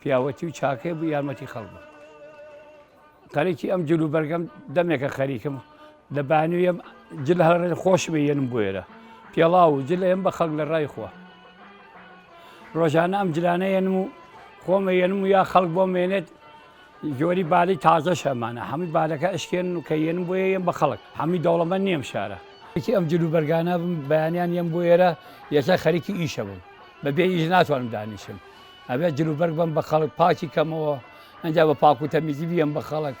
پیاوەتی و چاکەی بوو یارمەتی خەڵ بوو قەرێکی ئەم جلو بەرگەم دەمێکە خەریکم لە بانویم جل هەر خۆش بێنم بۆێرە پێڵاو و جل ئێم بە خەک لە ڕای خۆ ڕۆژانە ئەم جلانە ێنم و خۆمە ێنم و یا خەڵک بۆ مێنێت جۆری بالی تازە شەمانە هەمووی بالەکە ئەشکێن و کە ێنم بۆیە ێم بە خەڵک هەمووی دەوڵەمە نیم شارە یەکی ئەم جلو بەرگانە بم بەیانیان ێم بۆ ێرە یەسە خەریکی ئیشە بووم بەبێ ئیش ناتوانم دانیشم ئەبێ جلوبەرگ بم بە خەڵک پاکی کەمەوە ئەجا بە پاک و تەمیزی بیەم بە خەڵک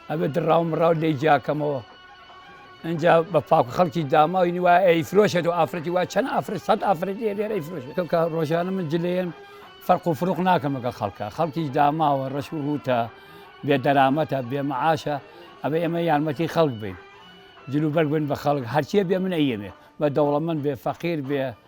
ئەبێ دڕاو مڕاو لێ جیاکەمەوە ئەجا بە پاک خەڵکی داماوی نیوە ئەی فرۆشێت و ئافرەتی وا چەند ئافرەت سەد ئافرەتی لێرەی فرۆشێت کە ڕۆژانە من جلێن فەرق و فروق ناکەمەکە خەڵکە خەڵکی داماوە ڕەش و ڕوتە بێ دەرامەتە بێ معاشە ئەبێ ئێمە یارمەتی خەڵک بین جلوبەرگ بن بە خەڵک هەرچیە بێ من ئەیەمێ بە دەوڵەمەند بێ فەقیر بێ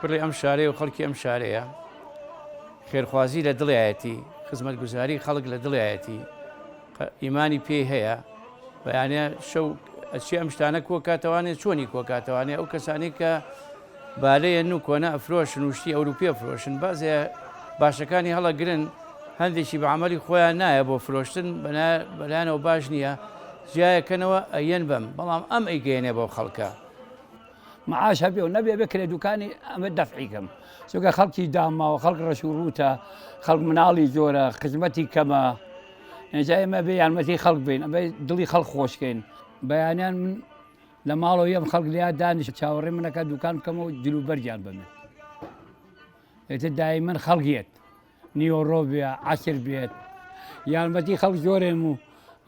کوڕی ئەم شارەیە و خەڵکی ئەم شارەیە، خێرخوازی لە دڵیایەتی، خزمەتگوزاری خەڵک لە دڵیایەتی، ئیمانی پێی هەیە، بەیانە شەو ئەچێ ئەم شتانە کۆکاتەوانێ چۆنی کۆکاتەوانێ ئەو کەسانی کە بالەیەن و کۆنە ئەفرۆشن و شتی ئەوروپی ئەفرۆشن بازێ باشەکانی هەڵەگرن هەندێکی بە عملی خۆیان نایە بۆ فرۆشتن بەلایانەوە باش نییە جیایەکەنەوە ئەیەن بەم بەڵام ئەم ئەیگەیەنێ بۆ خەڵکە معاش هەبێ و نەبێ بکرێ دوکانی ئەمە دەفعی کەم چونکە خەڵکی داماوە خەڵک ڕەش و ڕووتە خەڵک مناڵی جۆرە خزمەتی کەمە ئێجا ئێمە بێ یارمەتی خەڵک بین ئەمە دڵی خەڵک خۆشکەین بەیانیان من لە ماڵەوە یەم خەڵک لیا دانیش چاوەڕێ منەکە دوکان بکەمەوە جلوبەرگیان بمێ ئێتە دای من خەڵگیت نیوەڕۆ بێ عەسر بێت یارمەتی خەڵک جۆرێم و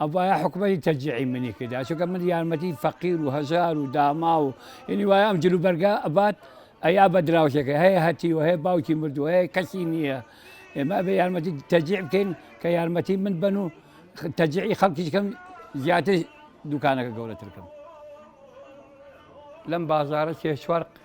ئەبایە حکومەتی تەجیعی منی کردا چونکە من یارمەتی فەقیر و هەژار و داما و ئینی وایە ئەم جلو بەرگە ئەبات ئەیا بە دراوشەکە هەیە هەتی و هەیە باوکی مردو هەیە کەسی نییە ئێمە بە یارمەتی تەجیع بکەین کە یارمەتی من بن و تەجیعی خەڵکیشکەم زیاتر دوکانەکە گەورەترکەم لەم بازارە سێ چوار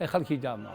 ئەی خەڵکی داماو.